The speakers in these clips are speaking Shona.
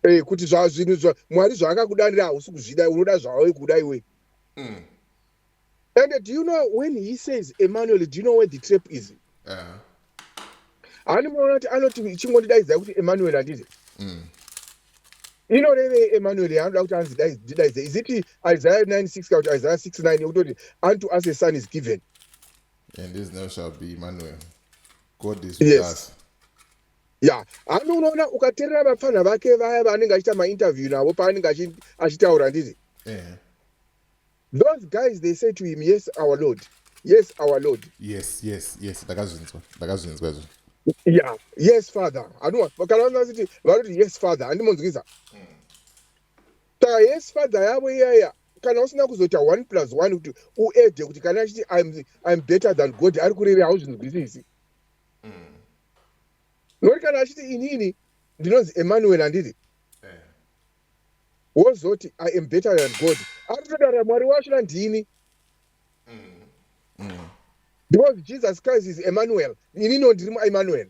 eh, kuti zvazvinhu zva mwari zvaakakudanira hausi kuzvida unoda zvawave kuda iwe mm. and do you know when he says emmanuel do you know where the trap is uh-huh. hani muona kuti anoti chingondidaidzai kuti emmanuel handiti mm. inorevei emmanuel yaanoda kuti anzi ndidaidze is it isaiah 96 kana kuti isaiah 69 yekutoti unto us a son is given and his name shall be emmanuel god is with yes. us ya hami unoona ukaterera vapfanha vake vaya vaanenge achiita mainterview navo paanenge achitaura handiti those guys they say to him yes our lord yes our lord yes yes yes ndakazvinzwa ndakazvinzwa izvo ya yes father anua kana vanga vachiti vanoti yes father handimonzwisa mm. saka yes father yavo iyaya kana usina kuzoita one plus one kuti uede kuti kana achiti im better than god ari kurere hauzvinzwisisi noti kana achiti inini ndinonzi emmanuel handiti eh. wozoti i am better than god aritotaura mwari wacho nandini mm. because jesus christ is emmanuel inino ndiri muemmanuel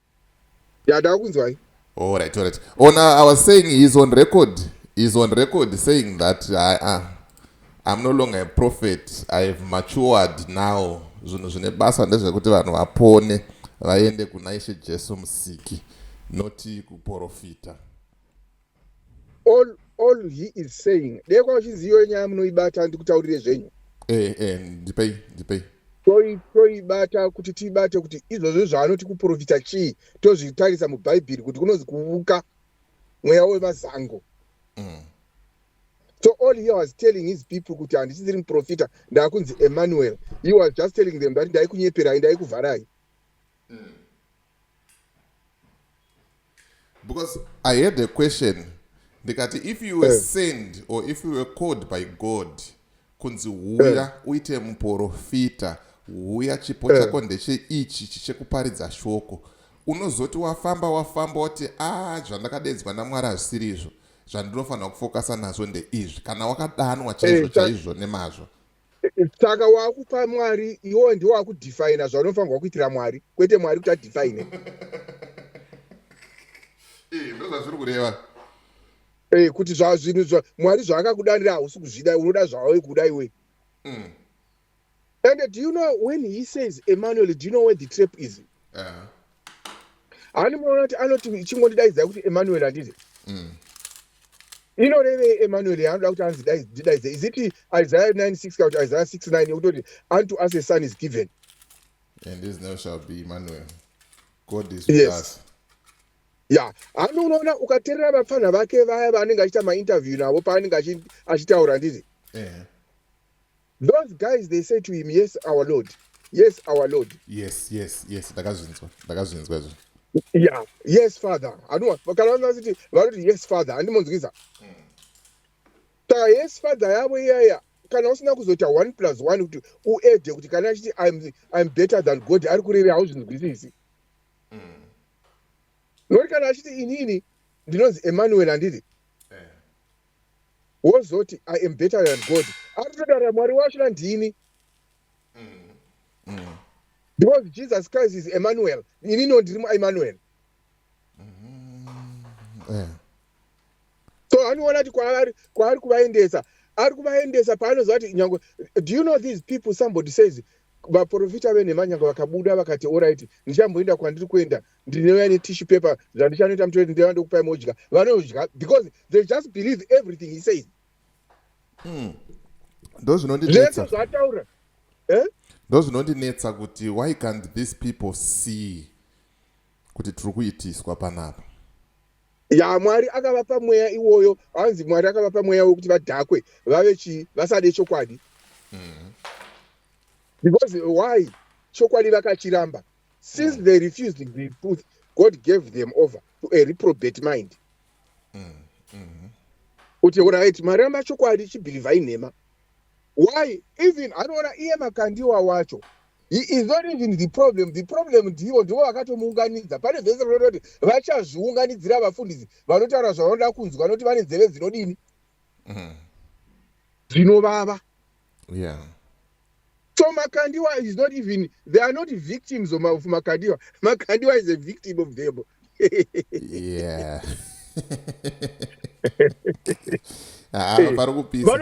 Dada wakunzwai? All right, all right. On uh, I was saying he's on record. He's on record saying that I, uh, I'm no longer a prophet. I have matured now. Zvinhu zvine basa ndezvekuti vanhu vapone vaende kuna Ishe Jesu Musiki, not kuporofita. all all he is saying dei kwa uchiziyo nyaya munoibata handikutaurire zvenyu eh eh ndipei ndipei toibata kuti tiibate kuti izvozvo zvaanoti kuprofita chii tozvitarisa mubhaibheri kuti kunonzi kuvuka mweya wevazango mm. so all he was telling his people kuti handisisiri muprofita ndaakunzi emmanuel he was just telling them that ndaikunyeperayi ndaikuvharai mm. because i had a question ndikati if you were eh. send or if you were called by god kunzi huya eh. uite muprofita huya chipo eh. chako ndecheichi chichekuparidza shoko unozoti wafamba wafamba woti a ah, zvandakadedzwa namwari hazvisiri izvo zvandinofanira kufokasa nazvo ndeizvi kana wakadanwa chaizvo chaizvo nemazvo saka wakupa mwari iwo ndiwo wakudefina zvaunofanirwa kuitira mwari kwete mwari kuti adefine eh, ndozvazviri kureva eh, kuti zvazvinhu mwari zvaakakudanira hausi kuzvida unoda zvawave kuda iwe mm. and do you know when he says emmanuel do you know where the trap is uh -huh. hani muona kuti anoti chingondidaidzai kuti emmanuel handiti mm. inorevei emmanuel yaanoda kuti anzi ndidaidze is it isaiah 96 kana kuti isaiah 69 yekutoti unto us a son is given and this now shall be emmanuel god is with yes. us ya hami unoona ukaterera vapfanha vake vaya vaanenge achiita mainterview navo paanenge achitaura nditi Those guys they say to him yes our lord yes our lord yes yes yes ndakazvinzwa ndakazvinzwa izvo yeah yes father anova kana vanaziti vanoti yes father handimonzwisa hmm. saka yes father yavo iyaya kana usina kuzoita one plus one kuti uede kuti kana achiti im better than god ari kurere hauzvinzwisisi mm. nokuti kana achiti inini ndinonzi emmanuel handiti wozoti i am better than god aritotaura mwari wacho nandini because jesus christ is emmanuel ini no ndiri muemmanuel eh. so anoona kuti kwaari kwaari kuvaendesa ari kuvaendesa paanoziva kuti nyange do you know these people somebody says vaprofita venhema nyange vakabuda vakati orit ndichamboenda kwandiri kuenda ndinouya netishu paper zvandichanoita mutoeti ndeva ndokupai modya vanodya because they just believe everything he says hmm. ndo zvinondinetsa zvataura eh? ndo zvinondinetsa kuti why can't these people see kuti tiri kuitiswa panapa ya mwari akavapa mweya iwoyo hanzi mwari akavapa mweya wekuti vadhakwe vave chii vasade chokwadi mm -hmm. because why chokwadi vakachiramba since mm. they refused the truth god gave them over to a reprobate mind mm. Mm. kuti orit mari yamachokwadi chibhilivha inhema why even anoona iye makandiwa wacho he is not even the problem the problem ndivo ndivo vakatomuunganidza pane vese rinototi vachazviunganidzira vafundisi vanotaura zvavanoda kunzwa vanoti vane nzeve dzinodini mm. zvinovava mm. yeah so makandiwa is not even they are not victims of makandiwa makandiwa is a victim of them yeah ah, eh, pari kupisa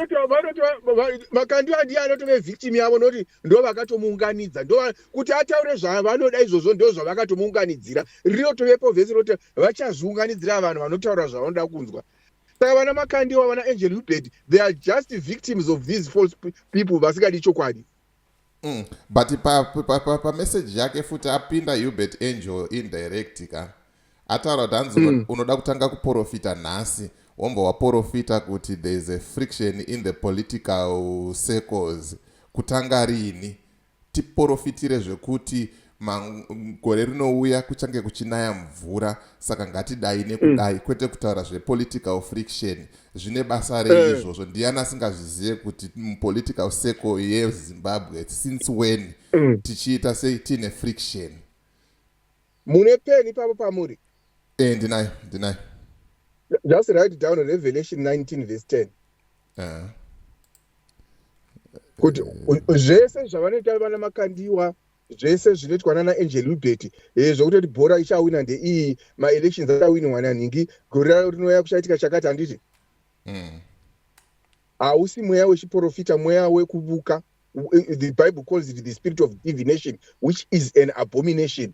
makandiwa ndiye anotove victim yavo nokuti ndo vakatomuunganidza ndo kuti ataure zvavanoda izvozvo ndo zvavakatomuunganidzira rinotovepo vese roti vachazviunganidzira vanhu vanotaura zvavanoda kunzwa saka vana makandiwa vana angel hubert they are just victims of these false people vasingadi chokwadi mm. but pameseji pa, pa, pa yake futi apinda hubert angel indirect ka ataura kuti hanzi mm. unoda kutanga kuprofita nhasi womba waprofita kuti there is a friction in the political circles kutanga riini Tiporofitire zvekuti gore rinouya kuchange kuchinaya mvura saka ngatidai nekudai mm. kwete kutaura zvepolitical friction zvine basa rei eh. izvozvo ndiyani asingazvizive kuti mupolitical circle yezimbabwe since when mm. tichiita sei tiine friction mune peni ipapo pamuri e ndinayo ndinayo just write down revelation 19 vs 10 uh. kuti zvese zvavanoita vana makandiwa zvese zvinoitwa nana angel ubert eh, zvokutoti bhora ichawina ndeiyi maelections achawinwa nanhingi gore raro rinouya kuchaitika chakati handiti hmm. hausi mm. mweya wechiprofita mweya wekubuka the bible calls it the spirit of divination which is an abomination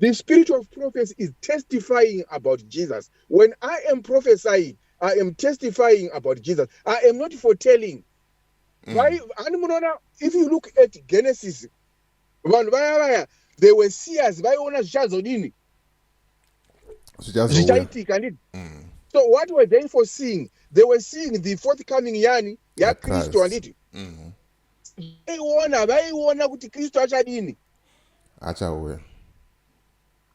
The spirit of prophecy is testifying about Jesus. When I am prophesying, I am testifying about Jesus. I am not foretelling. Mm. Why? And munoona, if you look at Genesis, vanhu vaya vaya, they were seers, vaiona zvichazodini? Zvichaitika, ndii? Mm. So what were they foreseeing? They were seeing the forthcoming yani, yaKristu, handiti? Mm-hmm. vaiona vaiona kuti kristu achadini achauya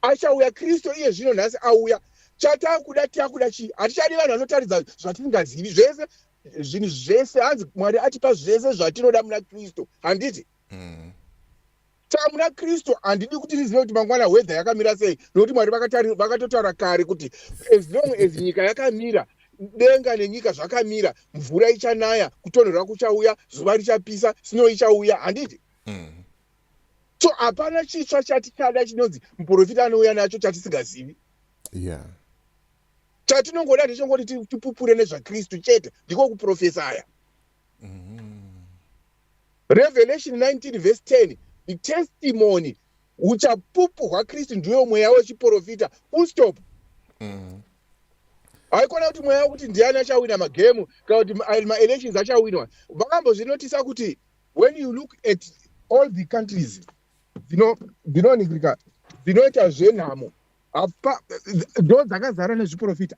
achauya kristu iye zvino nhasi auya chatakuda takuda chii hatichadi vanhu vanotaridza zvatisingazivi zvese zvinhu zvese hanzi mwari atipa zvese zvatinoda muna kristu handiti mm. tamu rakristu handidi kuti rizive kuti mangwana hwedha yakamira sei nokuti mwari vakatotaura kare kuti as long as nyika yakamira denga nenyika zvakamira mvura ichanaya kutonhorwa kuchauya zuva richapisa snow ichauya handiti mm. so hapana chitsva chatichada chinonzi muprofita anouya nacho chatisingazivi yeah. chatinongoda ndechongoti tipupure nezvakristu chete ndiko kuprofesaya Revelation 19 verse 10 the testimony uchapupu hwaKristu ndiwo mweya wechiporofita full stop mm. haikona kuti mweya wekuti ndiani achawina magemu kana kuti maelections achawinwa vakambozvinotisa kuti when you look at all the countries dzinoningirika dzinoita zvenhamo apa ndo dzakazara nezviporofita